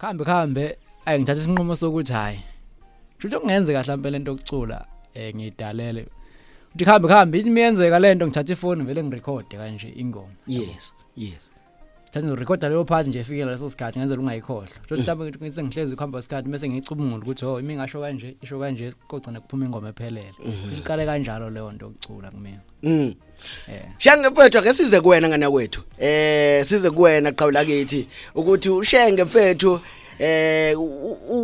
Khambe khambe ayi ngithatha isinqumo sokuthi hayi. Futhi kungenze kahle impela into yokucula eh ngidalele. Uthi khambe khambe ithi miyenzeka lento ngithatha ifoni vele ngirecord kanje ingoma. Yes, yes. thatha ngirecorda leyo part nje efike leso sikhathi ngenzela ungayikhohlwa so mm. mhlawumbe ngithi ngihlezi kuhamba isikhathi bese ngiyicubungula ukuthi oh imingasho kanje isho kanje kogcina kuphuma ingoma ephelele mhm. iqale kanjalo leyo nto yokucula kumina Mm. Eh. Shenge mfethu ake size kuwena ngana kwethu. Eh size kuwena qhawula kithi ukuthi ushenge mfethu eh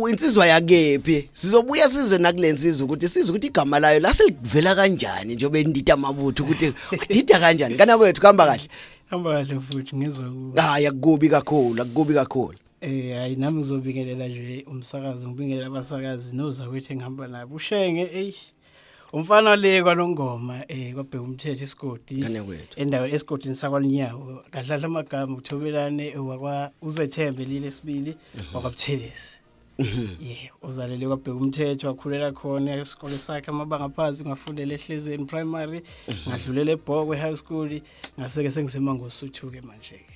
insizwa yakephi sizobuya sizwe nakulensizwa ukuthi sizwe ukuthi igama layo laselivela kanjani njengoba indida amabutho ukuthi udida kanjani kana kwethu kuhamba kahle hamba kahle futhi ngizwa ku hayi akukubi kakhulu akukubi kakhulu Eh hayi nami ngizobingelela nje umsakazi ngibingelela abasakazi nozakwethu engihamba nabo ushenge ey umfana wale kwanongoma eh kwabheka umthetho isigodi Ngane kwethu. endawo esigodini sakwalinyawo kadlala amagama uthobelane wakwa uzethembe lile sibili wakwabuthelezi yeah uzalele kwabheka umthetho wakhulela khona isikole sakhe amabanga phansi ngafundela ehlezeni primary ngadlulela ebhokwe high school ngase ke sengisemangosuthu ke manje ke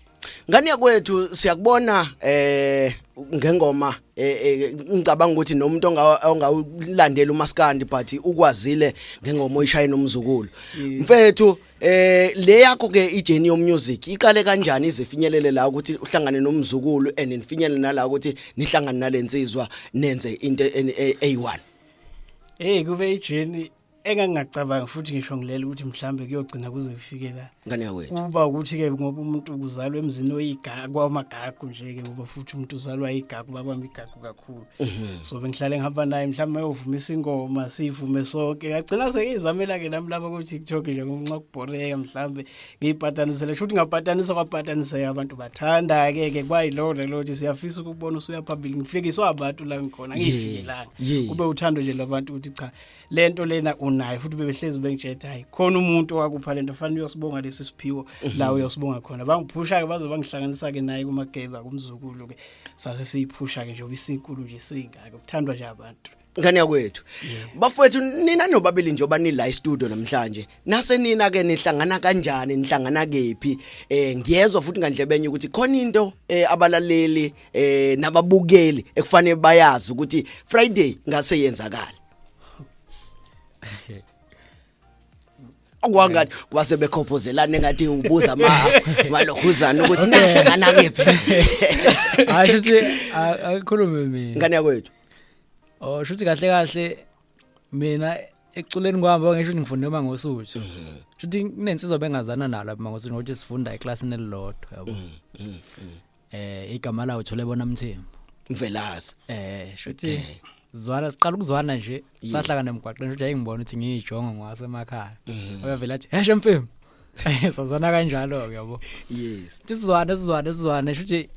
Ngane yakwethu siyakubona eh ngengoma eh, eh, ngicabanga ukuthi nomuntu ongawulandela umaskandi but ukwazile ngengoma oyishaya nomzukulu mfethu eh le yakho ke ijourney yo music iqale kanjani izifinyelele la ukuthi uhlangane nomzukulu and nifinyelele nala ukuthi nihlangane nalensizwa nenze into eyi1 eh, hey kube ijourney engangingacabangi futhi ngisho ngilele ukuthi mhlambe kuyogcina kuze kufike la ngane yakwethu kuba ukuthi ke ngoba umuntu uzalwa emzini oyigagu kwamagagu nje ke ngoba futhi umuntu uzalwa yigagu baba migagu kakhulu mhm. so bengihlale ngihamba naye mhlawumbe ayovumisa ingoma sivume sonke ngagcina sengizamela ke nami lapha ku TikTok nje ngenxa kubhoreka mhlawumbe ngiyipatanisele futhi ngapatanisa kwapatanise abantu bathanda ke ke kwayilowo lo ukuthi siyafisa ukubona usuya phambili ngifikiswa abantu la ngikhona ngiyifikelanga kube uthando nje labantu ukuthi cha lento lena unayo futhi bebehlezi bengitshela hayi khona umuntu owakupha lento fanele uyosibonga lesi siphiwo mhm. la uyosibonga khona bangiphusha ke baze bangihlanganisa ke naye kumageba kumzukulu ke sase siyiphusha ke nje obisinkulu nje singaka kuthandwa nje abantu ngane yakwethu bafowethu nina nobabili nje obani la studio namhlanje nase nina ke nihlangana kanjani nihlangana kephi eh ngiyezwa futhi ngandlebenye ukuthi khona into eh, abalaleli eh nababukeli ekufanele bayazi ukuthi Friday ngase yenzakala kwangani kuba sebekhophozelana engathi ubuza ma malokhuzana ukuthi nahlangana kephi hayi shuthi akukhulume mina ngane yakwethu oh shuthi kahle kahle mina eculeni kwami ngisho ukuthi ngifunde uma ngosuthi mhm. shuthi kunensizwa bengazana nalo uma ngosuthi ngokuthi sifunda eclassini elilodwa yabo mhm, mhm, eh igama lawo thule bona mthembu mvelazi eh shothi Okay. zwana siqala ukuzwana nje Yes. sahlangana emgwaqeni nje ngibona ukuthi ngiyijongo ngwase emakhaya Mhm. uyavela athi heshe mfembu sazana kanjalo ke yabo yes Sithi sizwane sizwane sizwane shuthi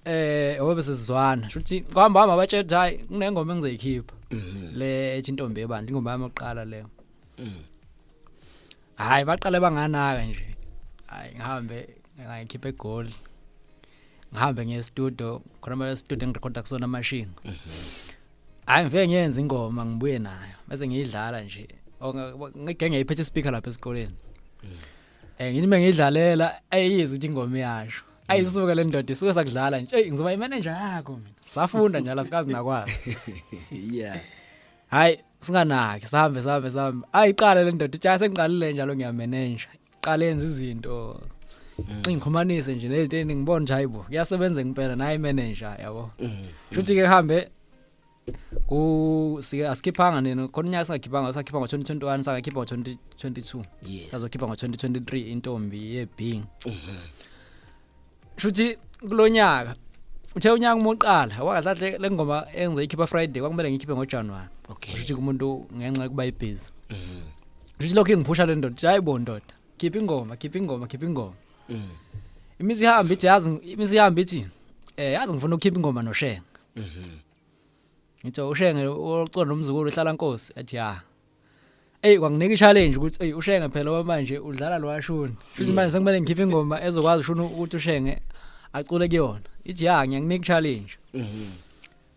eh obe sizwana shuthi kwamba hamba batshela ukuthi hayi kunengoma engizoyikhipha Mhm. le ethi intombi ebandla ingoma yami yokuqala leyo Mm. hayi baqale banganaka nje hayi ngihambe ngikhiphe egoli ngihambe ngiye estudio khona ma estudio ngirecorda kusona amashini hayi ngifike ngiyenza ingoma ngibuye nayo bese ngiyidlala nje ngike ngiyiphethe ispeaker lapha esikoleni mm. eh ngithi mengidlalela ayizwe ukuthi ingoma iyasho ayisuke le ndoda isuke sakudlala nje eyi ngizoba imanager yakho mina safunda njalo sikazi nakwazi yeah hayi singanaki sihambe sihambe sihambe ayiqale le ndoda itsha sengiqalile njalo ngiyamenenja iqale yenza izinto mm. xingikhumanise nje nezinto engibona nje hayibo kuyasebenza ngempela naye manager yabo mm. shuthi ke hambe ku sike asikhiphanga nini khona unyaka singakhiphanga sakhipha ngo 2021 sangakhipha ngo 2022 yes sazokhipha ngo 2023 intombi ye Bing mm-hmm. shuthi kulonyaka uthe unyaka uma uqala wakahle le ngoma engize ikhipha friday kwakumele ngikhiphe ngojanuwari okay shuthi kumuntu ngenxa yokuba ibhizi mm. shuthi lokhu ingiphusha le ndoda hayi bo ndoda khipha ingoma khipha ingoma khipha ingoma mm. imizi ihamba ithi yazi imizi ihamba ithi eh yazi ngifuna ukukhipha ingoma noshenga mhm. ngithe ushenge ucona nomzukulu uhlala nkosi athi ya Ey kwanginika i-challenge ukuthi ey ushenge phela oba manje udlala lo washuni. Futhi manje sekumele ngikhiphe ingoma ezokwazi ushuni ukuthi ushenge acule kuyona. Ithi ya ngiyakunika i-challenge. Mhm.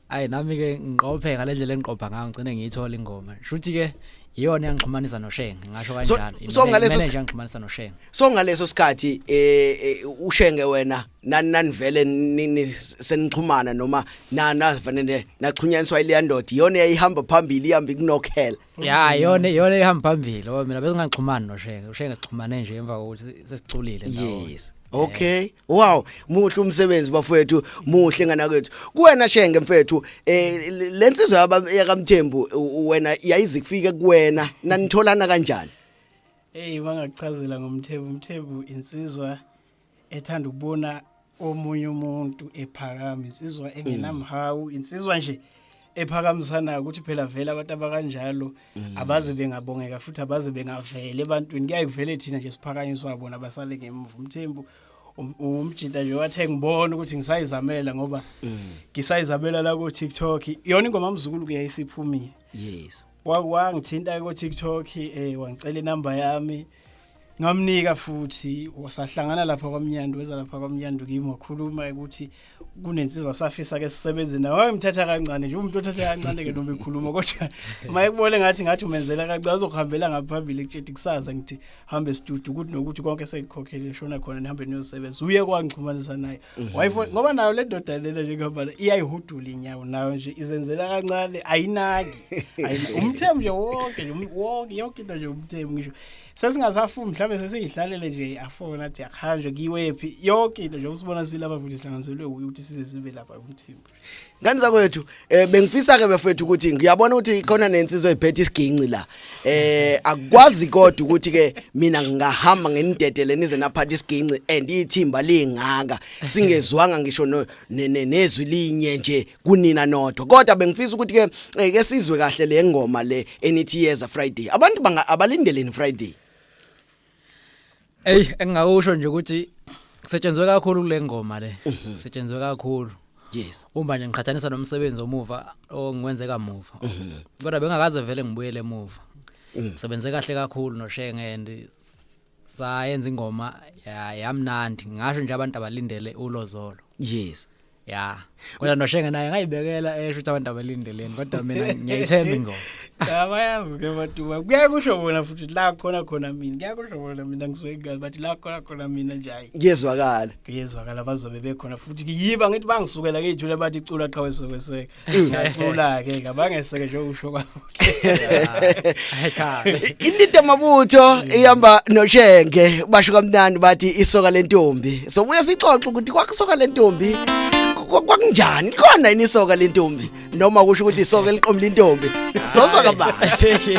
Ayi nami ke ngiqophe ngale ndlela engiqopha ngayo ngicine ngiyithola ingoma. Shuthi ke iyona yangixhumanisa noShenge ngasho kanjalo. So ngaleso ngixhumanisa noShenge. So ngaleso sikhathi eh, eh uShenge wena nani nanivele nini senixhumana noma nana vanene naxhunyaniswa ile ndoda iyona eyihamba phambili ihamba ikunokhela ya yona yona ihamba phambili oh mina besingaxhumani noshenge ushenge sixhumane nje emva kokuthi sesiculile nawo yes Okay. Wow, muhle umsebenzi bafowethu, muhle ngana kwethu. Kuwena shenge mfethu, eh lensizwa yaba yakamthembu wena yayizikufike kuwena nanitholana kanjani? Hey, bangakuchazela ngomthembu, umthembu insizwa ethanda ukubona omunye umuntu ephakama insizwa mm. engenamhawu insizwa nje ephakamisanayo ukuthi phela vele abantu abakanjalo mm. abaze bengabongeka futhi abaze bengavele ebantwini kuyaye kuvele thina nje siphakanyiswa bona basale ngemuva umthembu um, umjita nje wathe ngibona ukuthi ngisayizamela ngoba mm. ngisayizamela la ku TikTok iyona ingoma mzukulu kuyayisiphumile yes wangithinta ko TikTok eh wangicela inamba yami ngamnika futhi wasahlangana lapha kwamnyandu weza lapha kwamnyandu kimi wakhuluma ukuthi kunensizwa safisa ke sisebenze nawe wayemthatha kancane nje umuntu othatha kancane ke noma ekhuluma kodwa maye kubone ngathi ngathi umenzela kancane uzokuhambela ngaphambili kutshethi kusaza ngithi hambe studio ukuthi nokuthi konke sekukhokhele shona khona nihambe niyosebenza uye kwangixhumanisa naye Mhm. wayifo ngoba nayo le ndoda lena nje ngoba iyayihudula inyawo nayo nje izenzela kancane ayinaki Ayina- umthembu nje wonke nje um- wonke yonke into nje umthembu ngisho sesingasafuni mhlawumbe sesiyihlalele nje afona athi akuhanjwe kiwephi yonke into nje usibona silapha futhi sihlanganiselwe wuye ukuthi size sibe lapha umthembu ngani zakwethu eh bengifisa ke bafethu ukuthi ngiyabona ukuthi khona nensizwe iphethe isiginci la eh akwazi kodwa ukuthi ke mina ngingahamba ngenidedele nize naphatha isiginci and ithimba lingaka singezwanga ngisho nezwi linye nje kunina nodwa kodwa bengifisa ukuthi ke eh, ke sizwe kahle le ngoma le enithi yeza friday abantu abalindeleni friday Ey engingakusho nje ukuthi kusetshenzwe kakhulu kule ngoma le. Mhm. Kusetshenzwe kakhulu. Yes. Uma nje ngiqhathanisa nomsebenzi omuva ongiwenzeka muva. Mhm. Kodwa bengakaze vele ngibuyele emuva. Mhm. Sebenze kahle kakhulu noShenge and sayenza ingoma yamnandi ngasho nje abantu abalindele ulozolo. Yes. ya kodwa noshenge naye ngayibekela esho ukuthi abantu abalindeleni kodwa mina ngiyayithemba ingoma cha bayazi ke batuba kuyaye kusho bona futhi la khona khona mina kuyaye kusho bona mina ngizwe kahle bathi la khona khona mina nje hayi kuyezwakala kuyezwakala bazobe bekhona futhi yiba ngithi bangisukela ke ijule bathi icula qhawe sokweseka Ngiyacula ke kabangeseke nje usho kwabo. Indida mabutho ihamba noshenge basho kamnandi bathi isoka lentombi. So buya sixoxe ukuthi kwakusoka lentombi kwakunjani khona yini isoka lentombi noma kusho ukuthi isoka eliqomla intombi. Sozwa kabanzi.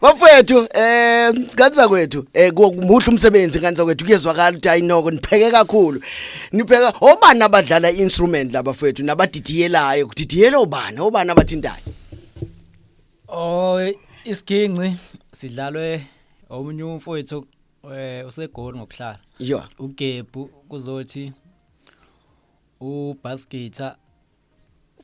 Bafethu eh ngani zakwethu eh muhle umsebenzi ngani zakwethu kuyezwakala ukuthi ayinoko nipheke kakhulu. Nipheka obani abadlala instrument laba fethu nabadidiyelayo kudidiyela obani obani abathintayo. Oh isiginci sidlalwe omunye umfowethu eh usegoli ngokuhlala. Yho. Ugebhu kuzothi ubaskitha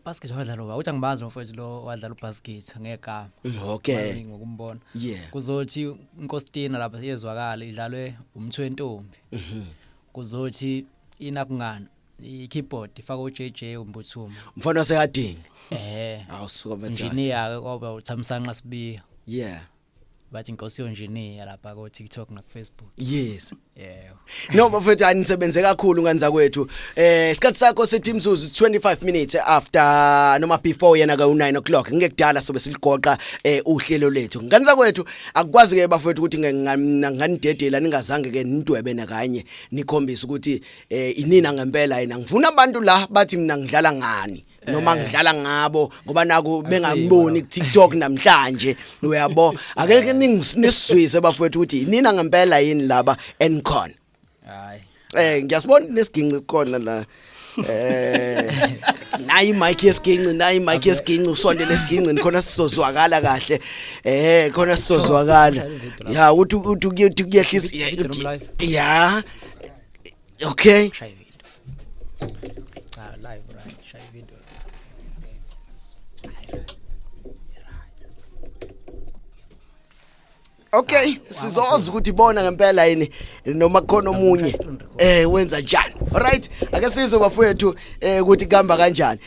basket wadlala uba uthi angibazi mfowethu lo wadlala ubasket ngegama mm, okay ngokumbona yeah kuzothi inkostina lapha yezwakala idlalwe umthu wentombi mhm. kuzothi inakungana i-keyboard ifaka uJJ umbuthuma mfana sekadinga eh awusuka manje engineer ke koba uthamsanqa sibiya yeah bathi inkosi yonjiniya lapha ko TikTok na Facebook yes yeah no bafethu anisebenze kakhulu nganza kwethu eh isikhathi sakho sithi imzuzu 25 minutes after noma before yena ka 9 o'clock ngekudala sobe siligoqa eh uhlelo lethu nganza kwethu akukwazi ke bafethu ukuthi nganidedela ningazange ke nidwebe nakanye nikhombisa ukuthi eh inina ngempela yena ngifuna abantu la bathi mina ngidlala ngani noma ngidlala ngabo ngoba naku bengangiboni ku TikTok namhlanje uyabo akeke ningisizwe bafowethu ukuthi nina ngempela yini laba enkhon hayi eh ngiyasibona nesiginci khona la eh nayi mic yesiginci nayi mic yesiginci usondele esiginci nikhona sizozwakala kahle eh khona sizozwakala ya uthi uthi kuyehlisa ya okay Cha live right, shaya video. Okay, sizozwa ukuthi bona ngempela yini noma khona omunye eh wenza njani. Alright, ake sizwe bafowethu eh ukuthi kuhamba kanjani.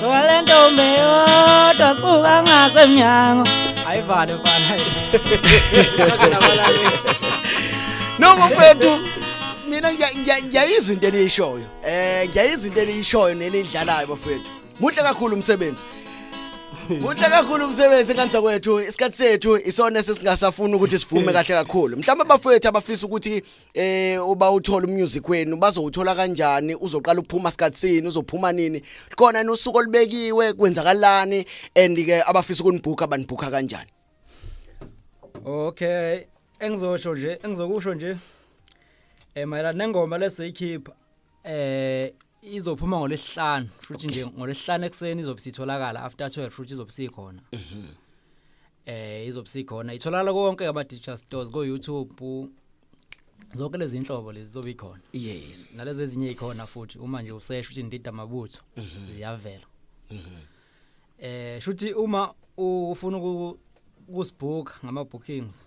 sowalentombi yodwa suka ngasemnyango ayivale mfana noma mfethu mina ngiyayizwa into eniyishoyo eh ngiyayizwa into eniyishoyo nenidlalayo bafethu muhle kakhulu umsebenzi Muhle kakhulu umsebenzi kansa kwethu isikhathi sethu isona sesingasafuni ukuthi sivume kahle kakhulu mhlawumbe abafowethu abafisa ukuthi eh uba uthola umusic wenu bazowuthola kanjani uzoqala ukuphuma sikhatsini uzophuma nini khona nosuku olubekiwe kwenzakalani and ke abafisa ukunibhuka banibhuka kanjani okay engizosho nje engizokusho nje eh mayelana nengoma lesoyikhipha eh izophuma ngolesihlanu futhi nje ngolesihlanu ekseni izobe sitholakala after 12 futhi izobe sikhona mhm. eh izobe sikhona itholakala konke ama digital stores go YouTube zonke lezi inhlobo lezi zobe ikhona yes nalezi ezinye ikhona futhi uma nje usesha ukuthi ndida mabutho mhm. ziyavela mhm. eh shuthi uma ufuna ukusibhuka ngama bookings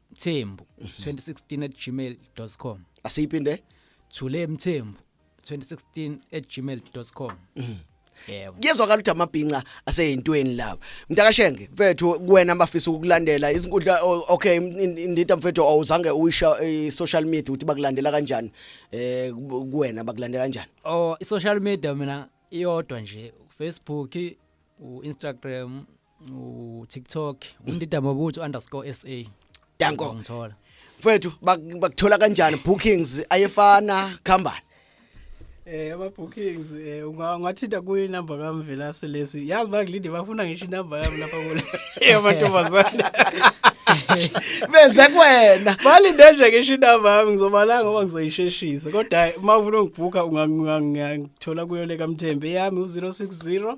mthembu 2016 at gmail com asiyiphinde thule mthembu 2016 at gmail com yebo kuyezwakala ukuthi amabhinca aseyintweni laba mntakashenge mfethu kuwena abafisa ukukulandela izinkundla o- okay in- indida mfethu awuzange uyisha eh, social media ukuthi bakulandela kanjani eh ku- kuwena bakulandela kanjani oh i-social media mina iyodwa nje ufacebook u-instagram u TikTok undida mabutho underscore sa danko ngithola mfethu bak- bakuthola kanjani bookings ayefana khambani Eh ama bookings eh unga- ungathinta kuyi number kami Velase lesi. Yazi bangilinde bafuna ngisho inumber yami lapha kule. Yamantombazane. beze kuwena Balinde nje ngisho inumber yami ngizobala ngoba ngizoyisheshisa. Kodwa hayi, uma ufuna ungibhuka ungangithola kuyo le kaMthembe yami u060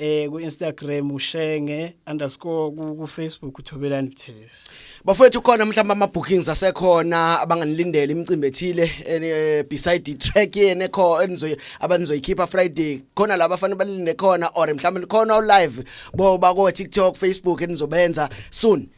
eh ku Instagram ushenge underscore ku Facebook uthobelani buthelezi bafowethu khona mhlawumbe ama bookings asekhona abanganilindela imicimbi ethile eh, beside track yene kho enizoy abanizoyikhipha Friday khona laba afanele balinde khona or mhlawumbe khona live bo ba ko TikTok Facebook enizobenza soon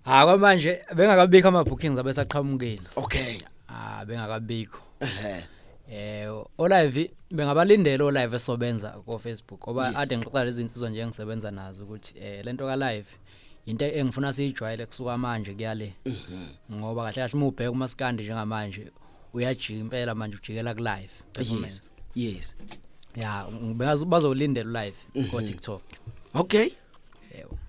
ha kwamanje bengakabikho ama bookings abesaqhamukile okay ah bengakabikho ehe eh olive bengabalindela olive esobenza ko Facebook oba Yes. ade ngixoxa lezi insizwa nje engisebenza nazo ukuthi eh lento ka live into engifuna siyijwayele kusuka manje kuyale Mhm. ngoba kahle kahle umubheka umaskandi njengamanje uyajika impela manje ujikela ku live yes performance yes ya ngibeka bazolindela live ko TikTok okay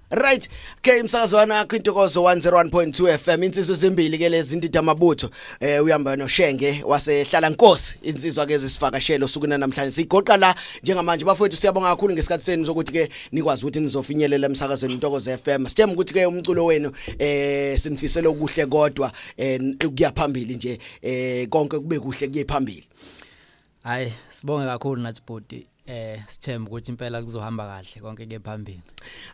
right okay umsakazo wanakho intokozo 101.2 FM insizwe zimbili ke lezi ndida mabutho eh uyamba noshenge wasehlala nkosi insizwa ke zisivakashelo sukuna namhlanje sigoqa la njengamanje bafowethu siyabonga kakhulu ngesikhathi senu sokuthi ke nikwazi ukuthi nizofinyelela emsakazweni intokozo FM sithemba ukuthi ke umculo wenu eh sinifisele okuhle kodwa eh kuyaphambili nje eh konke kube kuhle kuye phambili hayi sibonge kakhulu nathi bhodi eh sithemba ukuthi impela kuzohamba kahle konke ke phambili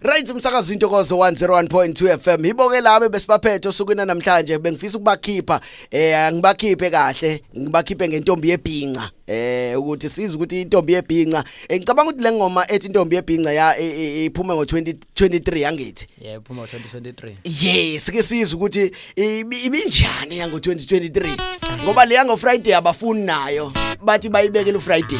right umsakazo intokozo 101.2 FM iboke labe besibaphethe osukwini namhlanje bengifisa ukubakhipha eh angibakhiphe kahle ngibakhiphe ngentombi yebhinca eh ukuthi siza ukuthi intombi yebhinca eh, ngicabanga ukuthi lengoma ethi intombi yebhinca ya e, e, e, iphume ngo 20 23 yangithi yeah phuma 2023 yes ke sizwe ukuthi ibinjani yango 2023 ngoba le yango Friday abafuni nayo bathi bayibeke lo Friday